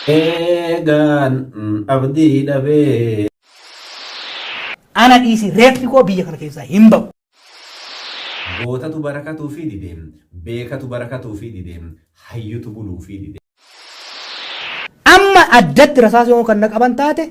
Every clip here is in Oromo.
Eegaan abdii dhabee. Ana dhiisi reeffi koo biyya kana keessaa hin ba'u. Gootatu barakatuufii dide. Beekatu barakatuufii dide. Hayyutu buluufii dide. Amma addatti rasaasa yoo kan na qaban taate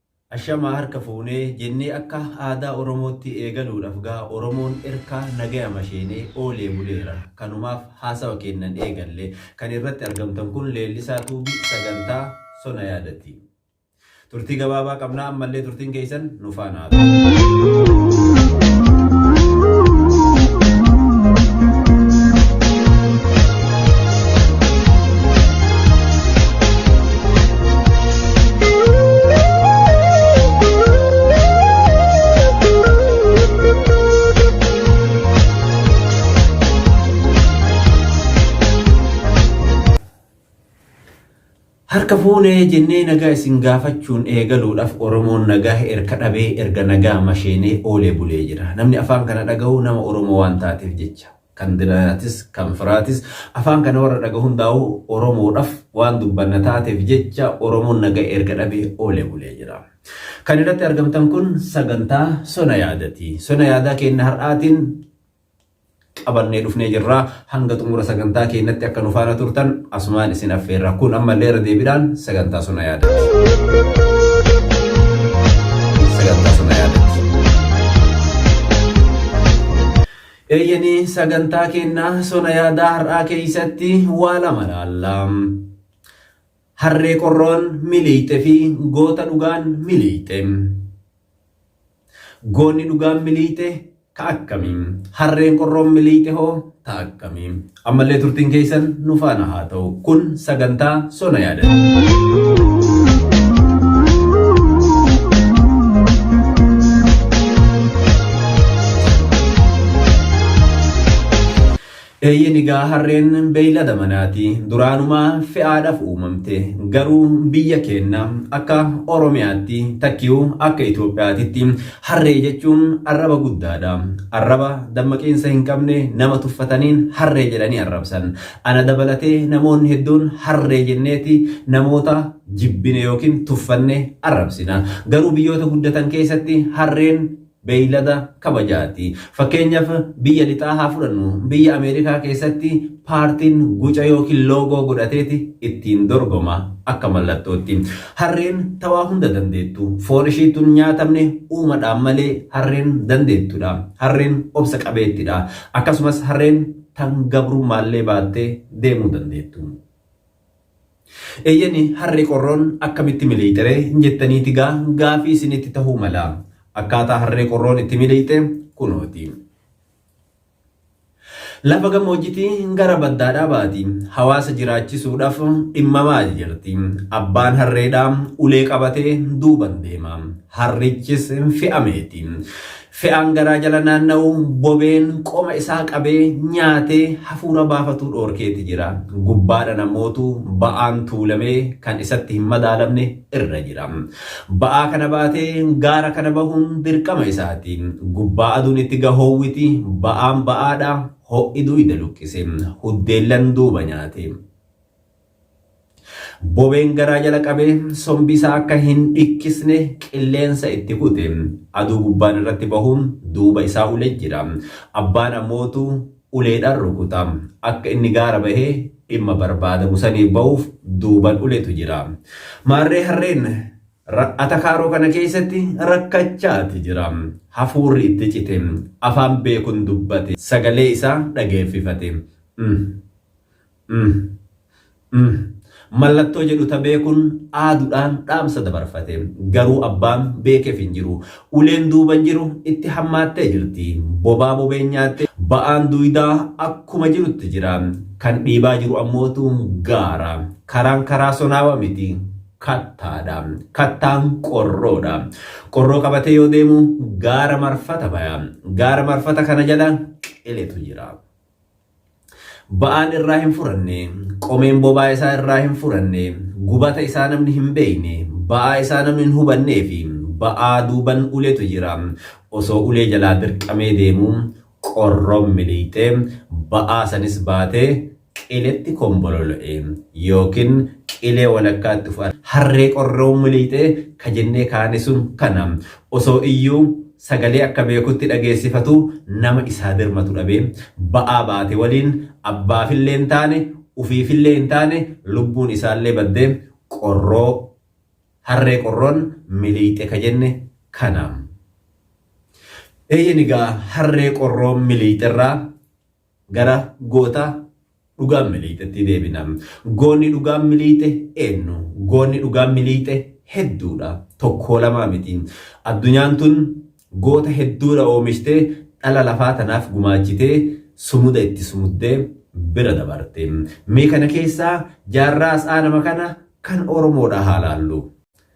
Ashamaa harka fuunee jennee akka aadaa Oromootti eegaluudhaf gaa Oromoon erkaa nagayama sheenee oolee buleera. Kanumaaf haasawa keennan eegalle. Kan irratti argamtan kun Leellisaa Tuubi sagantaa Sona Yaadati. Turtii gabaabaa qabna ammallee turtiin keessan nu faana haa ta'u. Harka fuunee jennee nagaa isin gaafachuun eegaluudhaaf Oromoon nagaa erga dhabee erga nagaa masheenee oolee bulee jira. Namni afaan kana dhagahu nama Oromoo waan taateef jecha. kan diraatis kan firaatis afaan kana warra dhaga hundaa'u Oromoodhaf waan dubbanna taateef jecha Oromoon naga erga dhabe oole bulee jira. Kan irratti argamtan kun sagantaa sona yaadati. Sona yaadaa keenna har'aatiin qabannee dhufnee jirra. Hanga xumura sagantaa keennatti akka nu faana turtan asumaan isin affeerra. Kun ammallee irra deebiidhaan sagantaa sona yaadati. Sagantaa sona yaadati. Eeyyeni sagantaa keenna sona yaadaa har'aa keeysatti waa lama laalla. Harree qorroon miliixxe fi goota dhugaan miliixxe. Goonni dhugaan miliixxe ka akkami? Harreen qorroon miliixxe hoo ta akkami? Ammallee turtiin keessan nu faana haa ta'u. Kun sagantaa sona yaadata. Eeyyeen egaa harreen beeylada manaati. Duraanumaa fe'aadhaaf uumamte. Garuu biyya keenya akka Oromiyaatti takkiyuu akka Itoophiyaatitti Harree jechuun arraba guddaadha. Arraba dammaqiinsa hin qabne nama tuffataniin harree jedhanii arrabsan. Ana dabalatee namoonni hedduun harree jenneeti namoota jibbine yookiin tuffanne arrabsina. Garuu biyyoota guddatan keessatti harreen beeylada kabajaati. Fakkeenyaf biyya lixaa haa fudhannu. Biyya Ameerikaa keessatti. Paartiin guca ykn loogoo godhateeti ittiin dorgoma. Akka mallattootti. Harreen ta waa hunda dandeettu. Foon ishii tun nyaatamne uumadhaan malee harreen dandeettudha. Harreen obsa qabeettidha. Akkasumas harreen tan gabrummaallee baattee deemuu dandeettu. Eeyyeni harree qorroon akkamitti miliixeree jettaniiti gaa gaafii isinitti tahuu mala. Akkaataa harree qorroon itti miliixe kunooti. Lafa gammoojjiti gara baddaadhaa baati. Hawaasa jiraachisuudhaf dhimma maal jirti. Abbaan harreedhaa ulee qabatee duuban deema. Harrichis fe'ameeti. Fe'aan garaa jala naanna'u bobeen qoma isaa qabee nyaatee hafuura baafatuu dhoorkeeti jira. Gubbaadhan ammootu ba'aan tuulamee kan isatti hin madaalamne irra jira. Ba'aa kana baatee gaara kana bahuun dirqama isaati. Gubbaa aduun itti gahoowwiti, ba'aan ba'aadha, ho'i duuyda luqqise, huddeellan duuba nyaate. Bobeen garaa jala qabee sombi isaa akka hin dhikkisne qilleensa itti kute. Aduu gubbaan irratti bahuun duuba isaa ule jira. Abbaan ammootu uleedhaan rukuta. Akka inni gaara bahee dhimma barbaadamu saniif bahuuf duuban uletu jira. Maarree harreen atakaaroo kana keessatti rakkachaati jira. Hafuurri itti cite. Afaan beekun dubbate. Sagalee isaa dhageeffifate. Umm. Umm. Mallattoo jedhu ta beekun aadudhaan dhaamsa dabarfate. Garuu abbaan beekef hin jiru. Uleen duuban jiru itti hammaattee jirti. Bobaa bobeen nyaatte ba'aan duydaa akkuma jirutti jira. Kan dhiibaa jiru ammootu gaara. Karaan karaa sonaawa miti. Kattaadha. Kattaan qorroodha. Qorroo qabatee yoo deemu gaara marfata baya. Gaara marfata kana jala qiletu jira. Ba'aan irraa hin furanne, qomeen bobaa isaa irraa hin furanne, gubata isaa namni hin beekne, ba'aa isaa namni hin hubannee fi ba'aa duuban uletu jira. Osoo ulee jalaa dirqamee deemuu qorroon miliixee ba'aa sanis baatee qiletti kombololo'e yookiin qilee walakkaatti of arge. Harree qorroon miliixee ka jennee kaane sun kana. Osoo iyyuu Sagalee akka beekutti dhageessifatu nama isaa birmatu dhabee, ba'aa baate waliin abbaafillee hin taane, ufiifillee hin taane lubbuun isaallee badde, qorroo, harree qorroon miliixxe ka jenne kana. Eeyyen egaa harree qorroon miliixxerraa, Gara goota dhugaan miliixetti deebina. Goonni dhugaan miliixe eennu? Goonni dhugaan miliixe hedduudha. Tokkoo lamaa miti. Addunyaan tun goota hedduudha oomishtee dhala lafaa tanaaf gumaachitee sumuda itti sumuddee bira dabarte. Mee kana keessaa jaarraa as aanama kana kan Oromoodha haa laallu.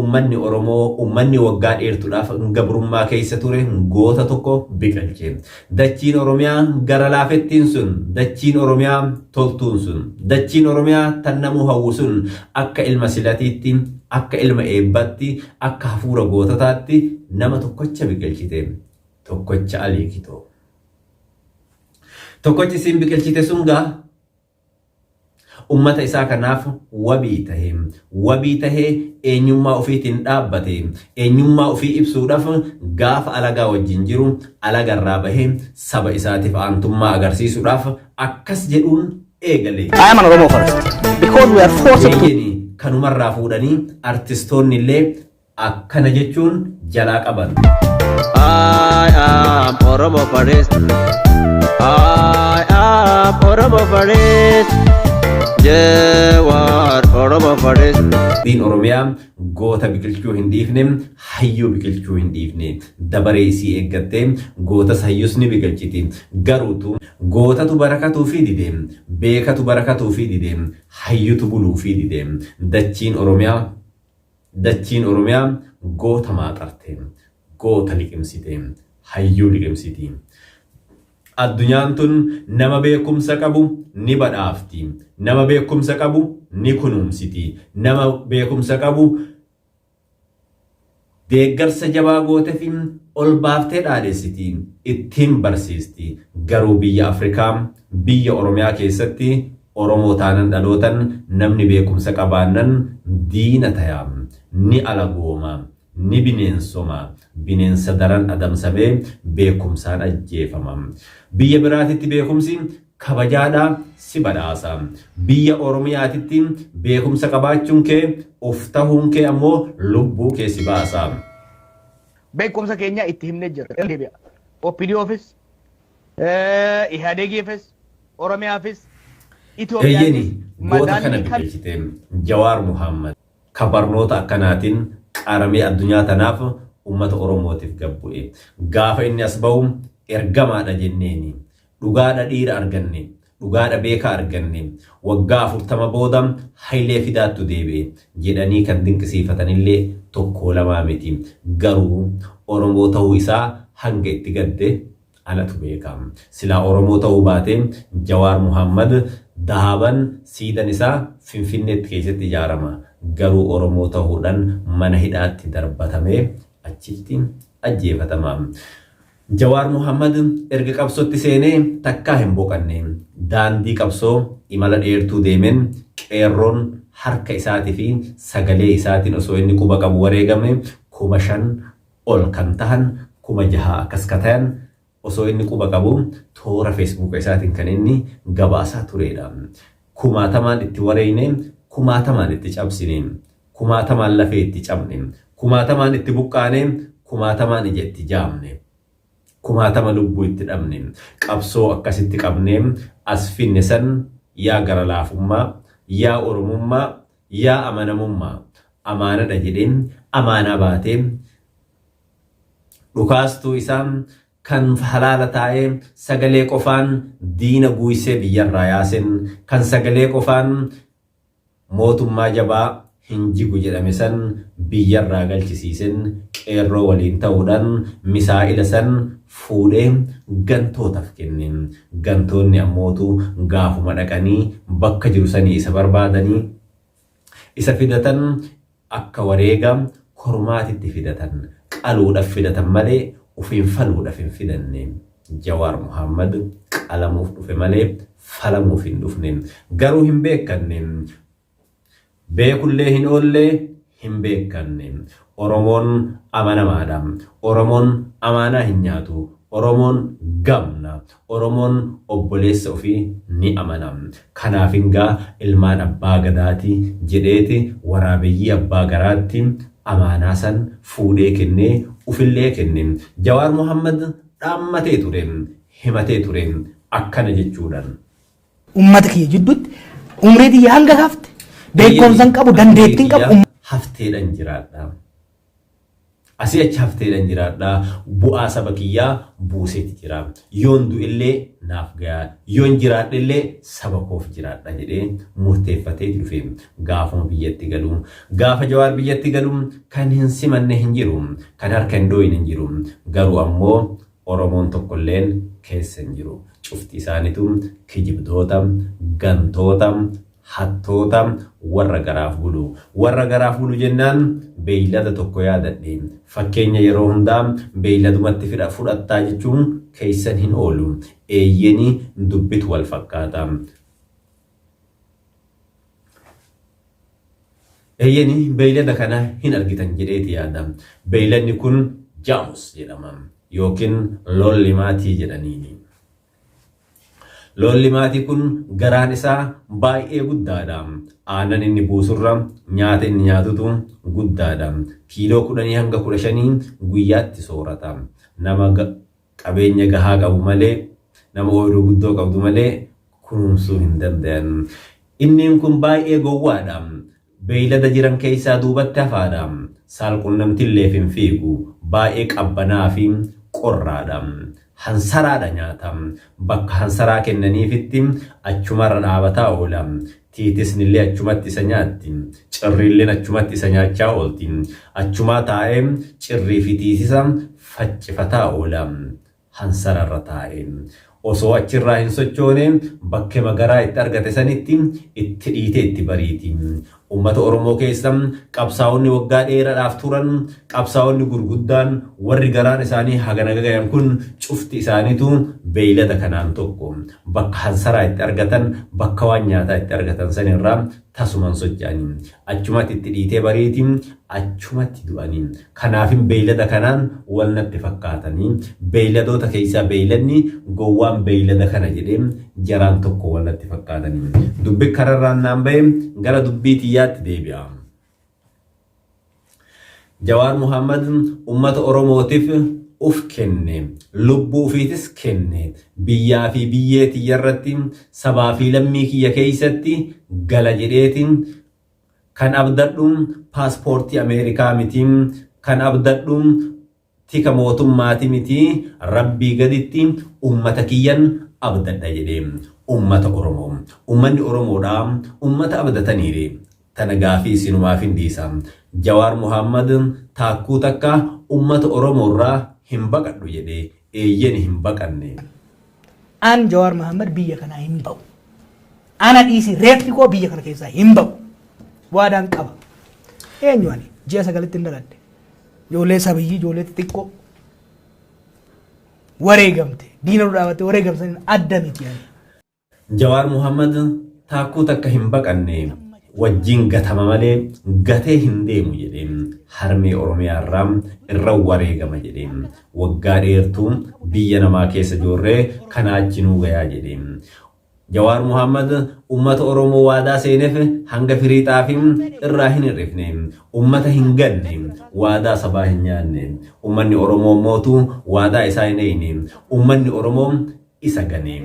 Ummanni Oromoo ummanni waggaa dheertudhaaf gabrummaa keessa ture goota tokko biqilche. Dachiin Oromiyaa gara laafettiin sun, dachiin Oromiyaa toltuun sun, dachiin Oromiyaa tan namuu hawwu sun akka ilma silatiitti, akka ilma eebbatti, akka hafuura goototaatti nama tokkocha biqilchite. Tokkocha Alii Kitoo. Tokkochi isiin biqilchite sun gaa Ummata isaa kanaaf wabii tahe. Wabii tahee eenyummaa ufiitiin dhaabbate. Eenyummaa ufii ibsuudhaaf gaafa alagaa wajjin jiru alaga irraa bahee saba isaatiif aantummaa agarsiisuudhaaf akkas jedhuun eegale. I am an Oromo first because we are forced to Eeyyeni kanumarraa fuudhanii artistoonni illee akkana jechuun jalaa qaban. I am Oromo Faris. I am Oromo Faris. Jewar Oromo Faris. Diin Oromiyaa goota biqilchuu hin dhiifne, hayyuu biqilchuu hin dhiifne. Dabaree isii eeggattee gootas hayyus ni biqilchiti. Garuutu gootatu barakatuu fi dide, beekatu barakatuu fi dide, hayyutu buluu fi dide. Dachiin Oromiyaa Dachiin Oromiyaa goota maaxarte, goota liqimsite, hayyuu liqimsiti. Addunyaan tun nama beekumsa qabu ni badhaafti, nama beekumsa qabu ni kunuunsiti, nama beekumsa qabu deeggarsa jabaa gootefi ol baaftee dhaadhessiti, ittiin barsiisti. Garuu biyya Afrikaa, biyya Oromiyaa keessatti Oromoo taanan dhalootan namni beekumsa qabaannan diina taya, ni alagooma, ni bineensoma, bineensa daran adamsamee beekumsaan ajjeefama. Biyya biraatitti beekumsi kabajaadha, si badhaasa. Biyya Oromiyaatitti beekumsa qabaachuun kee, of tahuun kee ammoo lubbuu kee si baasa. Beekumsa keenya itti himnee jirra. Irra deebi'aa. OPDOfis, Ihaadegiifis, Oromiyaafis Eeyyeni Itoophiyaafis goota kana madaallii kam bilcheessite Jawaar Muhaammad ka barnoota akkanaatiin qaramee addunyaa tanaaf ummata Oromootiif gad bu'e. Gaafa inni as bahu ergamaadha jenneeni. Dhugaadha dhiira arganne. Dhugaadha beekaa arganne. Waggaa 40 booda Hayilee Fidaattu deebi'e jedhanii kan dinqisiifatanillee tokkoo lamaa miti. Garuu Oromoo tahuu isaa hanga itti gadde Anatu beeka. Silaa Oromoo ta'uu baatee Jawaar Muhaammad Dahaaban siidan isaa Finfinneetti keessatti ijaarama. Garuu Oromoo tahuudhan mana hidhaatti darbatamee achitti ajjeefatama. Jawaar Muhaammad erga qabsotti seenee takkaa hin boqanne. Daandii qabsoo imala dheertuu deemen qeerroon harka isaati fi sagalee isaatin osoo inni quba qabu wareegame 5,000 ol kan tahan 6000 akkas ka tayan osoo inni quba qabu toora feesbuuka isaatiin kan inni gabaasaa tureedha. Kumaatamaan itti wareeyne, kumaatamaan itti cabsine, kumaatamaan lafee itti cabne, kumaatamaan itti buqqaane, kumaatamaan ija itti jaamne, kumaatama lubbuu itti dhabne, qabsoo akkasitti qabnee as finne san yaa gara laafummaa, yaa Oromummaa, Yaa amanamummaa! Amaanadha jedhee amaanaa baatee dhukaastuu isaa kan halaala taa'ee sagalee qofaan diina guuysee biyyarraa yaase, kan sagalee qofaan mootummaa jabaa hin jigu jedhame san biyyarraa galchisiise, qeerroo waliin ta'uudhaan misaa'ila san fuudhee gantootaf kenne. Gantoonni ammootu gaafuma dhaqanii bakka jiru sanii isa barbaadanii isa fidatan akka wareega kormaatitti fidatan, qaluudhaf fidatan malee ufiin faluudhaf hin fidanne. Jawaar Mohaammad qalamuuf dhufe malee falamuuf hin dhufne. Garuu hin beekkanne Beekullee hin oolle, hin beekkanne. Oromoon amanamaadha. Oromoon amaanaa hin nyaatu. Oromoon gamna. Oromoon obboleessa ofii ni amana. Kanaafin gaa ilmaan abbaa gadaati jedheeti waraabeyyii abbaa garaatti amaanaa san fuudhee kenne, ufillee kenne. Jawaar Mohaammad dhaammatee ture, himatee ture akkana jechuudhan. ummata kiyya jidduutti umrii tiyya hanga hafte beekumsan qabu dandeettiin qabu um- hafteedhan jiraadha. Asii achi hafteedhan jiraadha. Bu'aa saba kiyyaa buuseeti jira. Yoon du'ellee naaf gayaa. Yoon jiraadhellee saba koof jiraadha jedhee murteeffatee dhufe. Gaafuma biyyatti galu. Gaafa Jawaar biyyatti galu kan hin simanne hin jiru. Kan harka hin dhooyne hin jiru. Garuu ammoo Oromoon tokkolleen keessa hin jiru. Cufti isaanitu kijibdoota, gantoota, hattoota, warra garaaf bulu. Warra garaaf bulu jennaan beeylada tokko yaadadhe. Fakkeenya yeroo hundaa beeyladumatti fidha fudhattaa jechuun keessan hin oolu. Eeyyeni dubbitu wal fakkaata. Eeyyeni beeylada kana hin argitan jedheeti yaada. Beeyladni kun jaamus jedhama. Yookiin loollimaatii jedhaniini. Loollimaatii kun garaan isaa baay'ee guddaadha. Aannan inni buusurra nyaata inni nyaatutu guddaadha. Kiiloo kudhanii hanga kudha shanii guyyaatti soorata. Nama Qabeenya gahaa qabu malee, nama ooyruu guddoo qabdu malee kunuunsuu hin dandayan. Inniin kun baay'ee gowwaa dha. Beeylada jiran keessaa duubatti hafaa dha. Saal-qunnamtilleef hin fiigu. Baay'ee qabbanaa fi qorraa dha. Hansaraa dha nyaata. Bakka hansaraa kennaniifitti achumarra dhaabataa oola. Tiitisnillee achumatti isa nyaatti. Cirriilleen achumatti isa nyaachaa oolti. Achumaa taa'ee cirrii fi tiitisa faccifataa oola. Hansara irra taa'ee. Osoo achi irraa hin sochoone bakkema garaa itti argate sanitti itti dhiitee itti bariiti. Ummata Oromoo keessa qabsaa'onni waggaa dheeradhaaf turan, qabsaa'onni gurguddaan warri garaan isaanii hagana gagayan kun cufti isaaniituu beeylada kanaan tokko. Bakka hansaraa itti argatan, bakka waan nyaataa itti argatan san irraa tasuman socha'ani. Achumatti itti dhiitee bariiti, achumatti du'ani. Kanaafin beeylada kanaan wal natti fakkaatani. Beeyladoota keeysaa beeyladni gowwaan beeylada kana jedhe, jaraan tokko wal natti fakkaatani. Dubbi kararraan naan baye gara dubbii tiyyaatti deebi'a. Jawaar Muhammad ummata Oromootif uf kenne, lubbuu ufiitis kenne, biyyaa fi biyyee tiyya irratti, sabaa fi lammii kiyya keessatti gala jedheeti kan abdadhu paaspoortii Ameerikaa miti, kan abdadhu Tika mootummaati miti Rabbii gaditti ummata kiyyan abdadha jedhe. Ummata Oromo. Ummanni Oromoodha. Ummata abdataniire. Tana gaafii isinumaafin dhiisa. Jawaar Muhaammad taakkuu takka ummata Oromoorraa hin baqadhu jedhe. Eeyyeni hin baqanne. An Jawaar Mahaammad biyya kanaa hin ba'u. Ana dhiisii reeffi koo biyya kana keessaa hin ba'u. Waadaan qaba. Eenyu ani ji'a sagalitti hin dhaladhe. Ijoollee sabiyyii ijoollee xixiqqoo wareegamte diina nu dhaabatte wareegamsan adda miti ani. Jawaar Muhammad taakkuu takka hin baqanne wajjin gatama malee gatee hin deemu jedhee harmee Oromiyaa irraa irra wareegama jedhee Waggaa dheertu biyya namaa keessa joorre kanaa achi nuu gayaa jedhe. Jawaar Muhammad ummata Oromoo waadaa seenef hanga firii xaafi irraa hin hir'ifne. Ummata hin ganne. Waadaa sabaa hin nyaanne. Ummanni Oromoo mootu waadaa isaa hin eeyne. Ummanni Oromoo isa gane.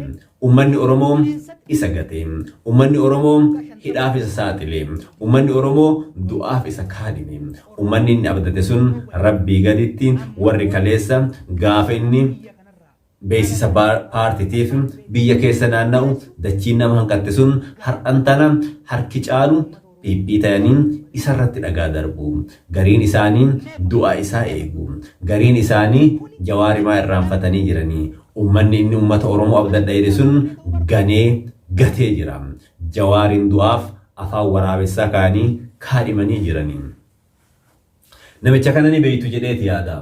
Ummanni Oromoo isa gate. Ummanni Oromoo hidhaaf isa saaxile. Ummanni Oromoo du'aaf isa kaadhime. Ummanni inni abdate sun Rabbii gaditti warri kaleessa gaafa inni beeksisa paartitiif biyya keessa naanna'u dachiin nama hanqatte sun har'an tana harki caalu dhidhiitayaniin isa irratti dhagaa darbu. Gariin isaanii du'a isaa eegu. Gariin isaanii Jawaarimaa irraanfatanii jiranii. Ummanni inni ummata Oromoo abdadha jedhe sun ganee gatee jira. Jawaariin du'aaf afaan waraabessaa kaanii kaadhimanii jiranii. Namicha kana ni beektu jedheeti yaada.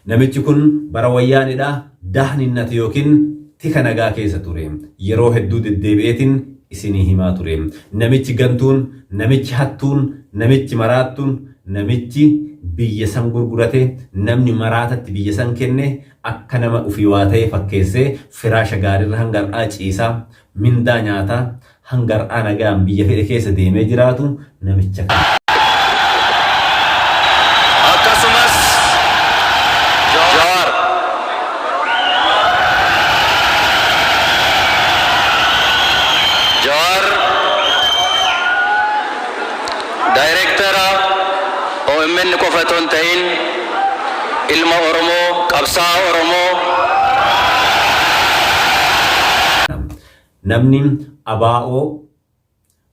Namichi kun bara Wayyaaneedha Dahninnat yookiin tika nagaa keessa ture. Yeroo hedduu deddeebi'eetiin isinii himaa ture. Namichi gantuun, namichi hattuun, namichi maraattuun, namichi biyya san gurgurate, namni maraatatti biyya san kenne akka nama ufii waa ta'ee fakkeessee firaasha gaariirra hanga har'aa ciisa, mindaa nyaata, Hanga har'aa nagaan biyya fedhe keessa deemee jiraatu namicha kana. Akkasumas Jawaar. Jawaar Daayireektara omn qofa otoo hin ta'iin ilma Oromoo, qabsaa'aa Oromoo. Namni ABO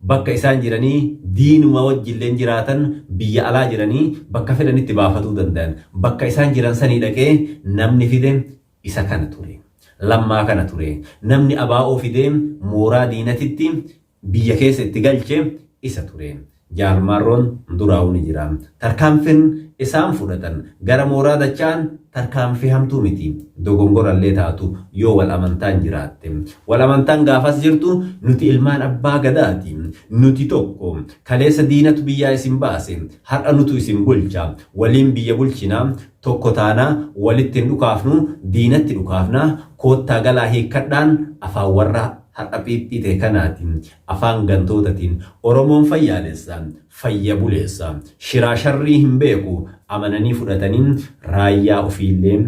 bakka isaan jiranii diinuma wajjilleen jiraatan biyya alaa jiranii bakka fedhanitti baafatuu dandayan. Bakka isaan jiran sanii dhaqee namni fide isa kana ture. Lammaa kana ture. Namni ABO fidee mooraa diinatitti biyya keessa itti galche isa ture. Jaal Marroon duraawuu ni jira. Tarkaanfin isaan fudhatan gara mooraa dacha'an tarkaanfii hamtuu miti. Dogongorallee taatu yoo wal amantaan jiraatte. Wal amantaan gaafas jirtu nuti ilmaan abbaa gadaati. Nuti tokko. Kaleessa diinatu biyyaa isin baase. Har'a nutu isin bulcha. Waliin biyya bulchina. Tokko taana. Walitti hin dhukaafnu. Diinatti dhukaafna. Koottaa galaa hiikkadhaan afaan warra har'a phiiphii ta'e kanaati. Afaan gantootatiin Oromoon fayyaalessa, fayya buleessa, shiraa sharrii hin beeku amananii fudhatanii raayyaa ofiillee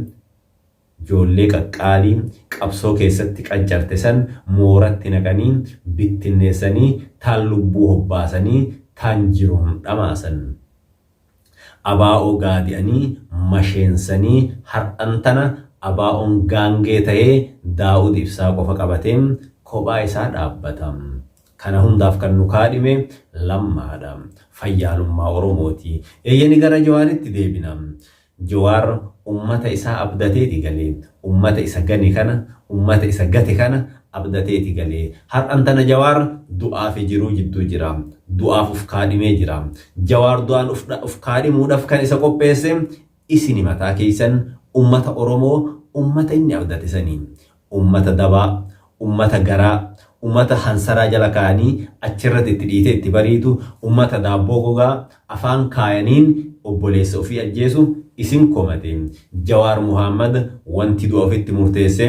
joollee qaqqaalii qabsoo keessatti qancarte san mooratti naqanii bittinneessanii taan lubbuu hobbaasanii taan jiruun dhamaasan. Abaa'oo gaadi'anii masheensanii har'an tana Abaa'oon gaangee tahee Daawud Ibsaa qofa qabatee kophaa isaa dhaabbata. Kana hundaaf kan nu kaadhime Lammaadha. Fayyaalummaa Oromooti. Eeyyeni gara Jawaaritti deebina. Jawaar ummata isaa abdateeti galee. Ummata isa gane kana, ummata isa gate kana abdateeti galee. Har'an tana Jawaar du'aa fi jiruu jidduu jira. Du'aaf uf kaadhimee jira. Jawaar du'aan uf kaadhimuudhaf kan isa qopheesse isini mataa keessan, ummata Oromoo, ummata inni abdate sani. Ummata dabaa, ummata garaa, ummata hansaraa jala kaa'anii achirratti itti dhiitee itti bariitu, ummata daabboo gogaa afaan kaayaniin obboleessa ofii ajjeesu isin komate. Jawaar Muhaammad wanti du'a ofitti murteesse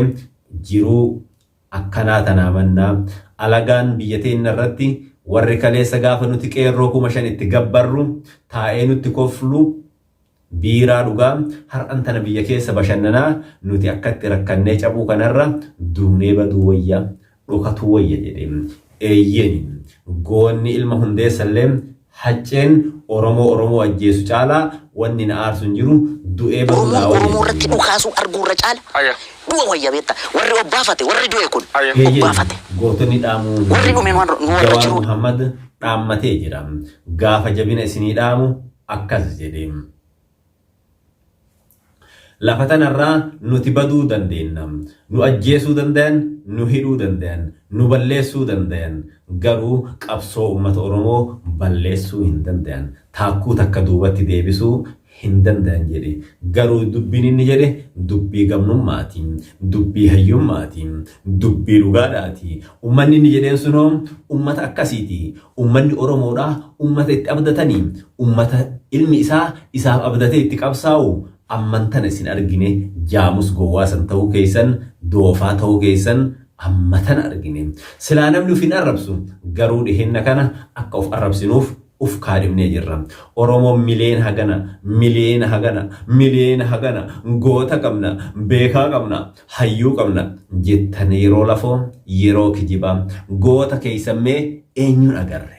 jiruu akkanaa tanaa mannaa, alagaan biyya teenna irratti warri kaleessa gaafa nuti qeerroo 5000 itti gabbarru taa'ee nutti koflu Biiraa dhugaa har'an tana biyya keessa bashannanaa nuti akkatti rakkannee cabuu kanarra duunee baduu wayya dhokatuu wayya jedhe. Eeyyeeni goonni ilma hundeessallee hacceen oromoo oromoo ajjeesu caalaa wanni na aarsu hin jiru du'ee baduu Oromoon naa wayya Oromoo irratti jedhe. dhukaasuu arguu irra caala Aya. du'a wayya beekta. Warri obbaafate warri du'e kun Aya. Eeyyeen obbaafate. gootonni dhaamuu Warri dhume waan nu warra Jawaar jiruudha. Muhammad dhaammatee jira. Gaafa jabina isinii dhaamu akkas jedhe, Lafa tanarraa nuti baduu dandeenna. Nu ajjeesuu dandayan, nu hidhuu dandayan, nu balleessuu dandayan. Garuu qabsoo ummata Oromoo balleessuu hin dandayan. Taakkuu takka duubatti deebisuu hin dandayan jedhe. Garuu dubbiin inni jedhe dubbii gamnummaati. Dubbii hayyummaati. Dubbii dhugaadha ati. Ummanni inni jedheen sunoo ummata akkasiiti. Ummanni Oromoodha ummata itti abdatani. Ummata ilmi isaa isaaf abdatee itti qabsaa'u. Amman tana isin argine jaamus gowwaa san ta'uu keessan, doofaa ta'uu keessan amma tana argine. Silaa namni uf hin arrabsu. Garuu dhiheenna kana akka uf arrabsinuuf uf kaadhimnee jirra. Oromoon mileen hagana, miliyeena hagana, miliyeena hagana, goota qabna, beekaa qabna. Hayyuu qabna jettan yeroo lafoo yeroo kijibaa goota keessan mee eenyuun agarre?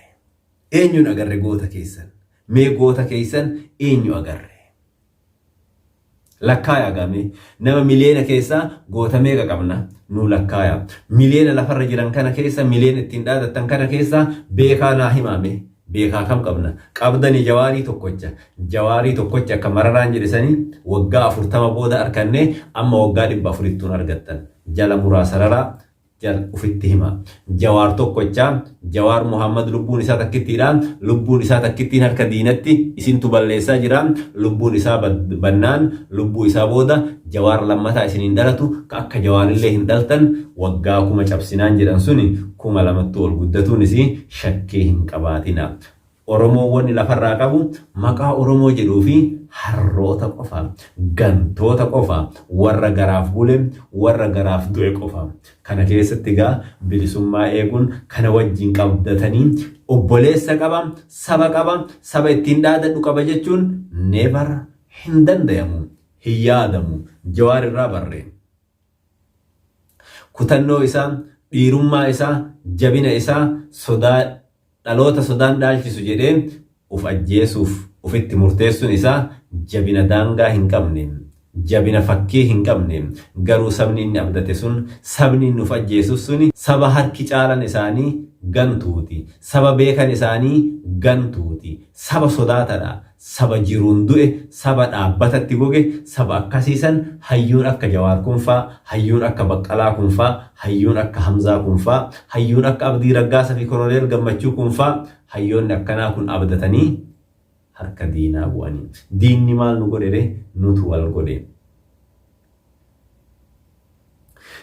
Eenyuun agarre goota keessan? Mee goota keessan eenyu agarre? Lakkaayaa gaa mee nama miliyeena keessaa goota meeqa qabna? Nuu lakkaayaa. Miliyeena lafarra jiran kana keessa miliyeena ittiin dhaadattan kana keessaa beekaa naa himaa mee Beekaa kam qabna? Qabdani Jawaarii tokkocha. Jawaarii tokkocha akka Mararaan jedhe sani waggaa 40 booda arkanne amma waggaa 400ttuun argattan. Jala muraa sararaa jal ufitti hima. Jawaar tokkocha, Jawaar Muhaammad lubbuun isaa takkittiidha. Lubbuun isaa takkittiin harka diinatti isintu balleessaa jira. Lubbuun isaa bannaan lubbuu isaa booda Jawaar lammataa isin hin dhalatu ka akka Jawaarillee hin dhaltan waggaa kuma cabsinaan jedhan suni kuma lamattuu ol guddatuun isii shakkii hin qabaatinaa. Oromoon wanni lafarraa qabu maqaa Oromoo jedhuu fi harroota qofa, gantoota qofa, warra garaaf bule, warra garaaf du'e qofa. Kana keessatti egaa bilisummaa eeguun kana wajjin qabdatanii obboleessa qaba, saba qaba, saba ittiin dhaadadhu qaba jechuun never hin dandayamu, hin yaadamu. Jawaar irraa barree. Kutannoo isaa, dhiirummaa isaa, jabina isaa, sodaa dhaloota sodaan dhaalchisu jedhee uf ajjeesuuf ufitti murteessun isaa jabina daangaa hin qabne, jabina fakkii hin qabne, garuu sabni inni abdate sun, sabni inni uf ajjeesuf suni saba harki caalan isaanii gantuuti, saba beekan isaanii gantuuti, saba sodaatadha, Saba jiruun du'e, saba dhaabbatatti goge, saba akkasii san hayyuun akka Jawaar kun faa, hayyuun akka Baqqalaa kun faa, hayyuun akka Hamzaa kun faa, hayyuun akka Abdii Raggaasa fi Koloneel Gammachuu kun faa, hayyoonni akkanaa kun abdatanii harka diinaa bu'anii. Diinni maal nu godhe ree? Nutu wal godhe.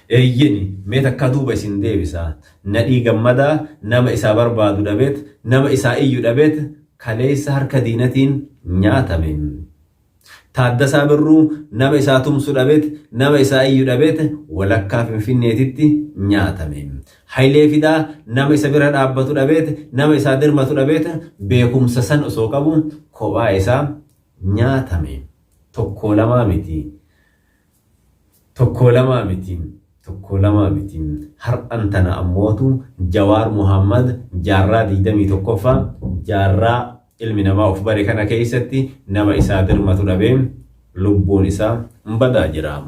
Eeyyeni, mee takkaa duuba isin deebisa. Nadhii Gammadaa nama isaa barbaadu dhabeet, nama isaa iyyu dhabeet kaleessa harka diinatiin nyaatame. Taaddasaa Birruu nama isaa tumsu dhabeet, nama isaa iyyu dhabeet walakkaa Finfinneetitti nyaatame. Hayilee Fidaa nama isa bira dhaabbatu dhabeet, nama isaa dirmatu dhabeet beekumsa san osoo qabu kophaa isaa nyaatame. Tokkoo lamaa miti Tokkoo lamaa miti Tokkoo lamaa miti Har'an tana ammootu Jawaar Muhaammad jaarraa 21ffaa jaarraa ilmi namaa of bare kana keessatti nama isaa dirmatu dhabee lubbuun isaa badaa jira.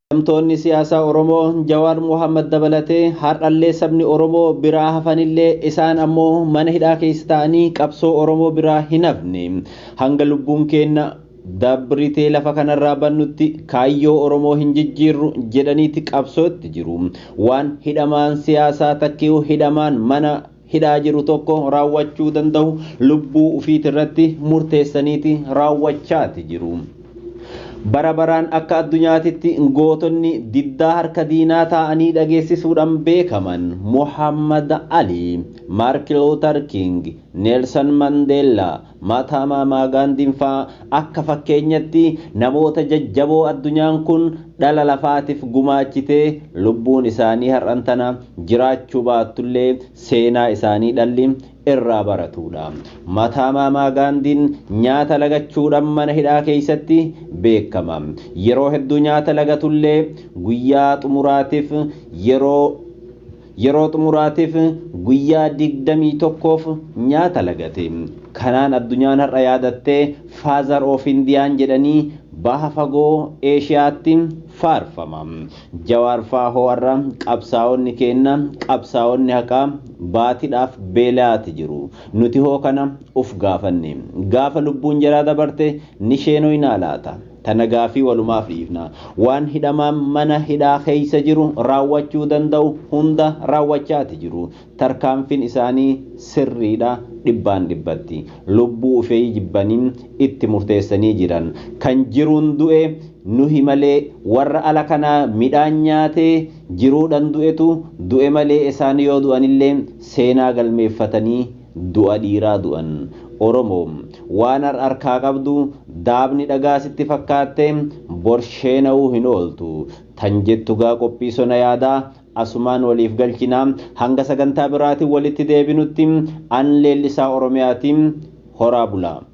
Hidhamtoonni siyaasaa Oromoo Jawaar Mohaammad dabalatee har'allee sabni Oromoo biraa hafanillee isaan ammoo mana hidhaa keessa taa'anii qabsoo Oromoo biraa hin hafne. Hanga lubbuun keenna dabritee lafa kanarraa bannutti kaayyoo Oromoo hin jijjiirru jedhaniiti qabsootti jiru. Waan hidhamaan siyaasaa takkeew hidhamaan mana hidhaa jiru tokko raawwachuu danda'u lubbuu ufiitirratti murteessaniiti raawwachaati jiru. Bara baraan akka addunyaatitti gootonni diddaa harka diinaa taa'anii dhageessisuudhaan beekaman Muhammad Ali, Mark Luther King, Nelson Mandela, Maataamaamaa Gaandiin faa akka fakkeenyatti namoota jajjaboo addunyaan kun dhala lafaatif gumaachite lubbuun isaanii har'an tana jiraachuu baattullee seenaa isaanii dhalli irraa baratuudha. Maataamaamaa Gaandiin nyaata lagachuudhan mana hidhaa keessatti beekama. Yeroo hedduu nyaata lagatullee guyyaa xumuraatif yeroo Yeroo xumuraatiif guyyaa 21f nyaata lagate. Kanaan addunyaan har'a yaadatte Father of Indian jedhanii baha fagoo Eeshiyaatti faarfama. Jawaar faa hoo har'a qabsaa'onni keenna, qabsaa'onni haqaa baatidhaaf beela'aati jiru. Nuti hoo kana uf gaafanne. Gaafa lubbuun jaraa dabarte ni sheenoynaa laata? Tana gaaffii walumaaf dhiifna. Waan hidhamaan mana hidhaa keessa jiru raawwachuu danda'u hunda raawwachaati jiru. Tarkaanfin isaanii sirriidha dhibbaan dhibbatti. Lubbuu ufeii jibbanii itti murteessanii jiran. Kan jiruun du'e nuhi malee warra ala kanaa midhaan nyaatee jiruudhan du'etu du'e malee esaan yoo du'anillee seenaa galmeeffatanii Du'a dhiiraa du'an. Oromoo! Waan har arkaa qabdu daabni dhagaa sitti fakkaattee bor sheena'uu hin ooltu. Tan jettu gaa qophii sona yaadaa asumaan waliif galchina. Hanga sagantaa biraatiin walitti deebinutti an Leellisaa Oromiyaati. Horaa bulaa!